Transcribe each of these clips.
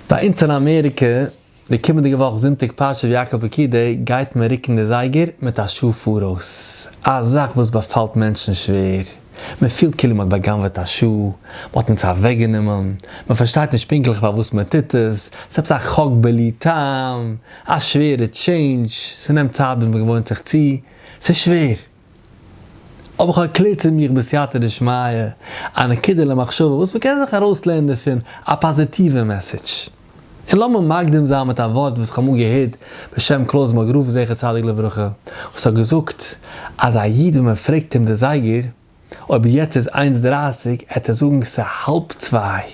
ביי אונז אין אמעריקע, די קומענדיגע וואך זונטאג פרשת ויקהל פקידי גייט מען רוקן די זייגער מיט א שעה פאראויס, א זאך וואס באפאלט מענטשן שווער, מען פילט כאילו מען האט בא'גנב'עט א שעה, מען האט אונז אוועקגענומען, מען פארשטייט נישט פונקטליך פארוואס מען טוט עס, ס'עפעס א חוק בלי טעם, א שווערע טשעינדזש, ס'נעמט צייט ביז מען געוואוינט זיך צו, ס'שווער. האב איך ערקלערט צו מיך בסייעתא דשמיא, א נקודה למחשבה וואס מ'קען זיך ארויסלערנען דערפון א פאזיטיווע מעסעדזש. און לאמיר מקדים זיין מיט א ווארט וואס איך האב אמאל געהערט בשם קלויז מאגרוף זכר צדיק לברכה, וואס האט געזאגט אז א איד ווען מ'פרעגט אים די זייגער אויב יעצט איז איינס דרייסיג, עט ער זאגן ס'האלב צוויי.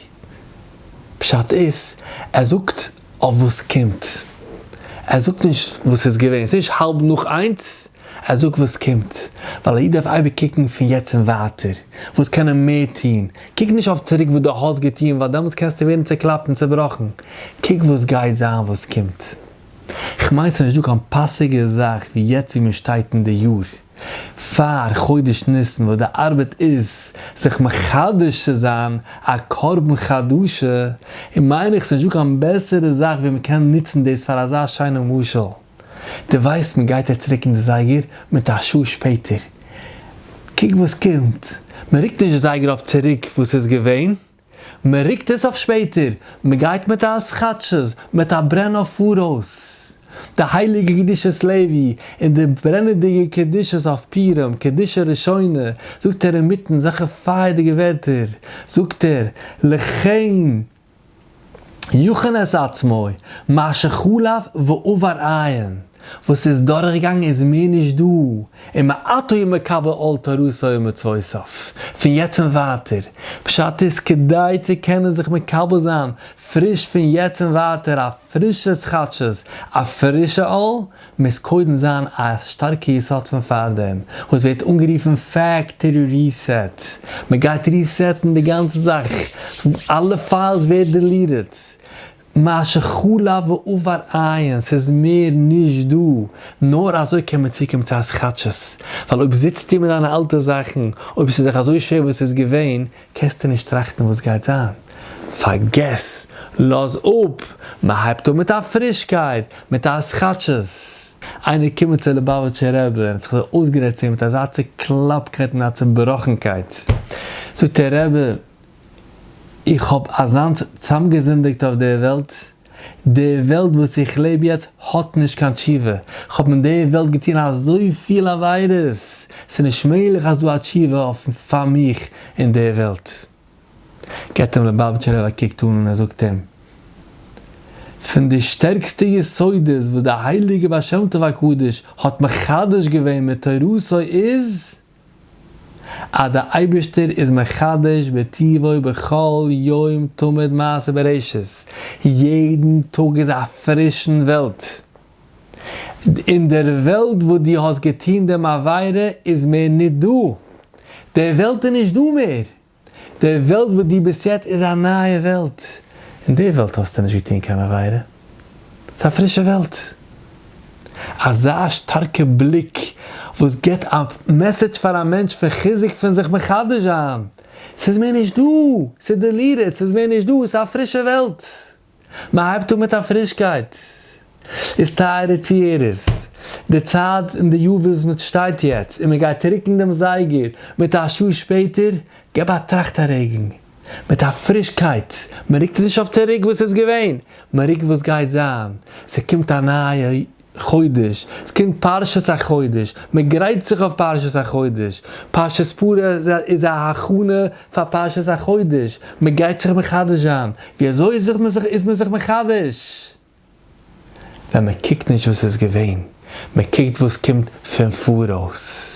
פשט איז, ער זאגט. אויף וואס קומט? ער זאגט נישט וואס איז געווען, ס'איז נישט האלב נאך איינס, ער זאגט וואס קומט, ווייל א איד דארף אייביג קוקן פון יעצט און ווייטער, וואס קען ער מער טון, קוק נישט אויף צוריק וואס דו האסט געטון, ווייל דעמאלטס קענסטו ווערן צעקלאפט און צעבראכן, קוק וואס גייט זיין, וואס קומט. כ'מיין ס'איז נישטא קיין פאסיגער זאך ווי יעצט ווי מ'שטייט אין די יאר. פאר חודש ניסן וואס די ארבעט איז זיך מחדש צו זיין א קרבן חדשה, און מיין איך ס'נישט דא קיין בעסערע זאך ווי מ'קען נוצן דאס פאר אזא שיינע משל, די ווייסט מ'גייט יעצט רוקן די זייגער מיט א שעה שפעטער, קוק וואס קומט, מ'רוקט נישט די זייגער אויף צוריק וואס איז געווען, מען רוקט עס אויף שפעטער, מען גייט מיט א אז כאטשז מיט א ברען אויף פאראויס. די הייליגע קדושת לוי און די ברענעדיגע קדושת אויף פורים קדושה ראשונה, זאגט ער אינמיטן זאכע פייערדיגע ווערטער, זאגט ער, לכן יכנס עצמו, מעשה חלב ועובר עין. וואס איז דורכגעגאנגען איז מער נישט דא, און מעתה הוא מקבל עול תורתו ומצוותיו, פון יעצט און ווייטער, פשט איז כדי צו קענען זיך מקבל זיין פריש פון יעצט און ווייטער א פרישע התחדשות, א פרישע עול, מוז קודם זיין א שטארקע יסוד פון פארדעם, וואס ווערט אנגערופן פעקטארי ריסעט, מען גייט ריסעטן די גאנצע זאך, אלע פיילס ווערט דעליטעד, מה שחלף ועבר עיין, ס'איז מער נישט דא, נאר אזוי קען מען צוקומען צו הזכתש'ס, ווייל אויב זיצטו מיט דיינע אלטע זאכן, אויב ס'איז דיך אזוי שווער וואס ס'איז געווען, קענסטו נישט טראכטן וואס גייט זיין. פארגעס, לאז אפ, מען הייבט אן מיט א פרישקייט, מיט א הזכתש'ס. איינער קומען צו ליבאוויטשער רבי און האט זיך אזוי אויסגערעדט צו אים מיט אזא צוקלאפקייט און א צובראכנקייט, זאגט ער, רבי, איך האב אזאנס צאמגעזינדיגט אויף די וועלט, די וועלט וואס איך לעב יעצט האט נישט קיין תשובה, איך האב אין די וועלט געטון אזויפיל עבירות, ס'נישט מעגליך אז דא א תשובה אויף פאר מיך אין די וועלט. גיבט אים ליובאוויטשער רב א קוק אן און ער זאגט אים, פון די שטערקסטע יסודות וואס די הייליגע בעל שם טוב הקדוש האט מחדש געווען מיט תורתו איז, אז דער אייבערשטער איז מחדש בטובו בכל יום תמיד מעשה בראשית, יעדן טאג איז א פרישן וועלט, און דער וועלט וואס דו האסט געטון דעם עבירה איז מער ניט דא, דער וועלט איז נישט דא מער, די וועלט וואס דו ביסט יעצט איז א נייע וועלט, אין די וועלט האסטו נישט געטון קיין עבירה, ס'איז א פרישע וועלט. אזא שטארקע בליק וואס גיבט א מעסעדזש פאר א מענטש פון חיזוק פון זיך מחדש זיין, ס'איז מער נישט דא, ס'איז דעליטעד, ס'איז מער נישט דא, ס'איז א פרישע וועלט. מען הייבט אן מיט א פרישקייט, איז טייערע צוהערערס, די צייט אין די יו וויזניץ שטייט יעצט און מען גייט רוקן דעם זייגער מיט א שעה שפעטער, געב א טראכט ארעגן מיט א פרישקייט, מען רוקט נישט אויף צוריק וואס איז געווען, מען רוקט וואס גייט זיין, ס'קומט א נייע. חודש, עס קומט פרשת החודש, מען גרייט זיך אויף פרשת החודש, פרשת פרה איז א הכנה פאר פרשת החודש, מען גייט זיך מחדש זיין, ווי אזוי איז מען זיך מחדש? ווען מען קוקט נישט וואס איז געווען, מען קוקט וואס קומט פון פאראויס.